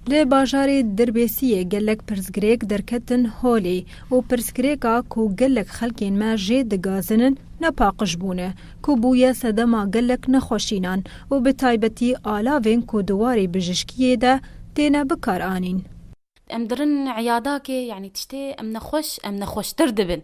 Li bajarê Dirbêsiyê gelek pirsgirêk derketin holê û pirsgirêka ku gelek xelkên me jê digazinin nepaqij bûne ku bûye sedema gelek nexweşînan û bi taybetî alavên ku di warê bijişkiyê de têne bikaranîn. Em dirin îyadakê, yanî tiştê em nexweş, em nexweştir dibin.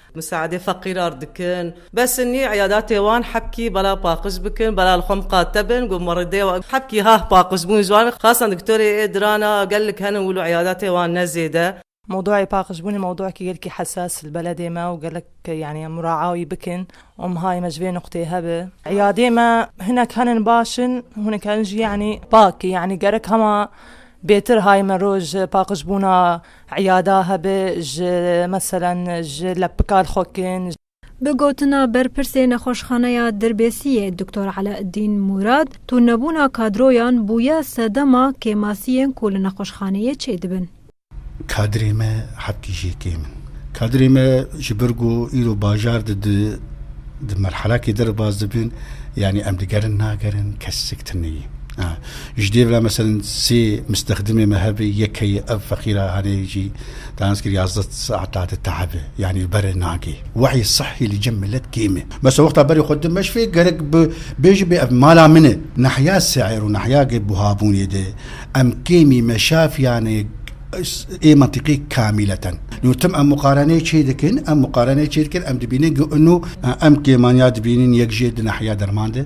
Misaedê feqîrar dikin. Besinî îyadatê wan hebkî bala paqij bikin, bala li xwe miqate bin, got ma rêde ye hebkî hah paqij bûn ji wan xasan diktorê ê diran a gellik henin wilo îyadatê wan ne zêde. Mewduayê paqijbûnê mewduekî gelkî hesas li beledê me û gelek yanî em muraea wî bikin û mihayê me ji vê nuqteyê hev e. Îyadê me hinek henin baş in û hinek herin jî yanî pak in yanî gerek hema bêtir hayê me roj paqijbûna Îyada hebe ji meselan ji lepikar xwe kirin. Bi gotina berpirsê nexweşxaneya Dirbêsiyê Doktor Eleeddîn Mûrad, tûrnebûna kadroyan bûye sedema kêmasiyên ku li nexweşxaneyê çêdibin. Kadrê me hetî jê kêm in. Kadrê me ji ber ku îro bajar de di merhelakê de re baz dibin, yanî em digerin nagerin, kes sik tune ye. Ji dê ve meselin sê mistexdimê me hebe yek heye ev feqîra hanê jî dahans kir yazdeh saeta di tehibe yanî berê nagê. Wehî sihhî li cem milet kêm e. Mesa wexta berê xwe dimeşve gerek bi bêji bê ev mala min e. Nahya seir û nahya ge buhabûnê de em kêmî meşafiyane ê mentiqî kamîleten. No tim em muqareneyê çê dikin, em muqareneyê çê dikin em dibînin ge ino em kêman ya dibînin yek jê di nahya derman de.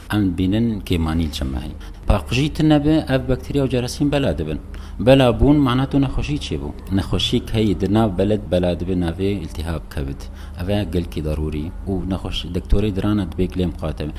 Em dibînin kêmanîn çi mehî paqijî tune be ev bakterîa û cerasîm bela dibin. Bela bûn mana tu nexweşî çêbû. Nexweşî keyî di nav beled bela dibe navê îltîhab, kevit. Ev e gelkî darûrî û nexweş doktorê dirana dibê gilê miqate be.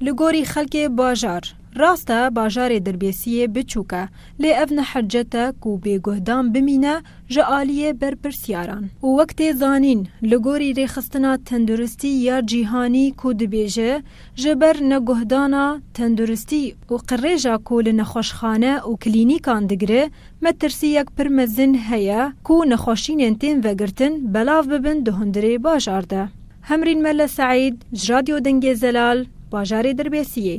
Li gorî xelkê bajar, rast e bajarê Dirbêsiyê biçûk e, Lê ev ne hercet e ku bêguhdan bimîne ji aliyê berpirsyaran û wek tê zanîn, li gorî Rêxistina Tenduristî ya Cîhanî ku dibêje, ji ber neguhdana tenduristî û qirêja ku li nexweşxane û klînîkan digire, metirsiyek pir mezin heye ku nexweşînên tên vegirtin belav bibin di hundirê bajar de. Hemrîn Mele Seîd ji Radyo Dengê Zelal, bajarê Dirbêsiyê.